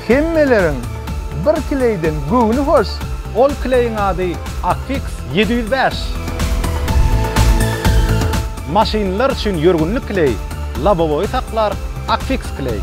Hemmeleriň bir kleýden göwni hoş. Ol kleýiň ady Affix ýedi ýüz bäş. Maşynlar üçin ýörgünli kleý, lobowoýy saklar Affix kleý.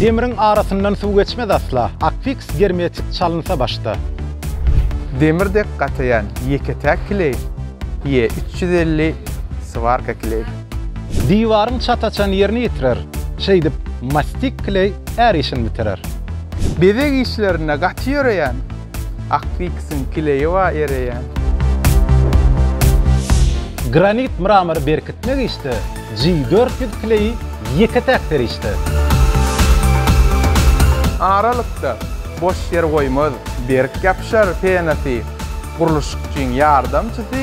Demriň arasyndan suw geçmez asla, Akfiks germetik çalynsa başda. Demir dek gataýan ýeke-täk kileý, Ýe üç ýüz elli swarka kileý. Diwaryň çat açan ýerini ýitirer, Şeýdip, mastik kileý är işini bitirer. Bezeg işlerinde gaty ýöreýän, Akfiksiň kileýi bar ereýän. Granit mramyry berkitmek işde, G dört ýüz kleýi ýeke-täk serişde. Aralykda boş ýer goýmaz, berk ýapyşar penasy, gurluşykçyň ýardamçysy,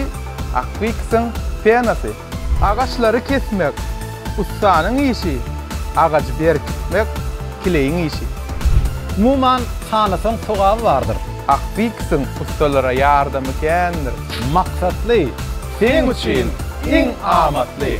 Akwiksyn penasy. Agaçlary kesmek, ussanyň işi, agajy berkitmek, kleýiň işi. Umuman, hanasaň sogaby bardyr. Akwiksyn ussalara ýardamy kändir. Maksatly, Seň üçin iň amatly.